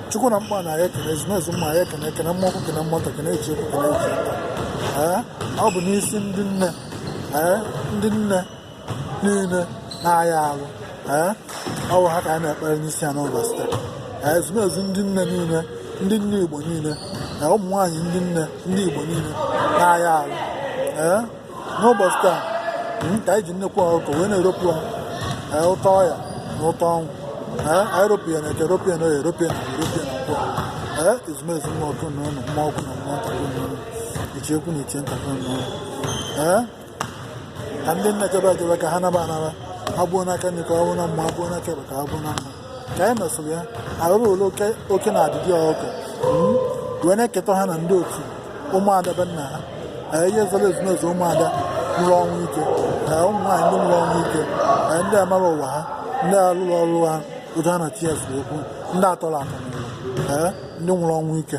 chukwu na mkpa na ya ekene ezumezu mma ya ekene ekene mmụọ ukwu kene mmụọ nta kene ichie ukwu kene ichie nta ee ọ bụ n'isi ndị nne ee ndị nne niile na-aya arụ ee ọ bụ ha ka anyị na-ekpere n'isi ya n'ụbọchị taa ee ezumezu ndị nne niile ndị nne igbo niile na ụmụ nwaanyị ndị nne ndị igbo niile na-aya arụ ee n'ụbọchị taa hmm, ka anyị ji nnekwu ọkụkọ wee na-eropụ eh, ụtọ ọya na ụtọ ọnwụ eh, anyị ropụ ya na eke ropụ ya na oye ropụ ya na ropụ ya na nkwọ ee eh, ezumezu mmụọ kwụ na ụlọ mmụọ ukwu na mmụọ nta kwụ na ụlọ ichie ukwu na ichie nta kwụ na ụlọ ee ka ndị nna chebe achebe ka ha naba anaba ha gbuo n'aka nri ka ọ bụ na mma ha gbuo n'aka ekpe ka ha gbuo na mma ka anyị mesịrị ya arụrụ ole oke oke na adịdị ọkụ Mm. wee na-eketa ha na ndị otu ụmụada be nna ha Ee, ihe zoro ezumezu ụmụada nwụrụ ọnwụ ike Ee, ụmụ nwaanyị ndị nwụrụ ọnwụ ike Ee, ndị amarọ ụwa ha ndị alụrọ ọrụ ha otu ha na ts okwu ndị atọrọ atọ n'ụwa Ee, ndị nwụrụ ọnwụ ike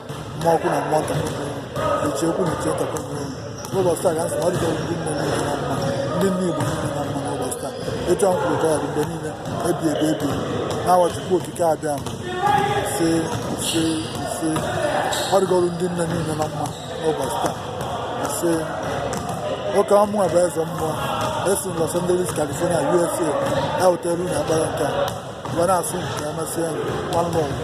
mmụọ ukwu na mmụọ nta ichie ukwu na ichie nta n'ụbọchị taa ka m sị na ọ dịgoro ndị nne niile na mma ndị nne igbo niile na mma n'ụbọchị taa etu a m kwuru ga-adị mgbe niile ebi ebi ebi n'afa chukwu okike abịama ise ise ise ọ dịgoro ndị nne niile na mma n'ụbọchị taa ise ọkwa mụnwa bụ eze mmụọ esi m Los Angeles California USA ewetara unu ekpere nke a wee na-asị unu ka emesịa nwanne ọgụ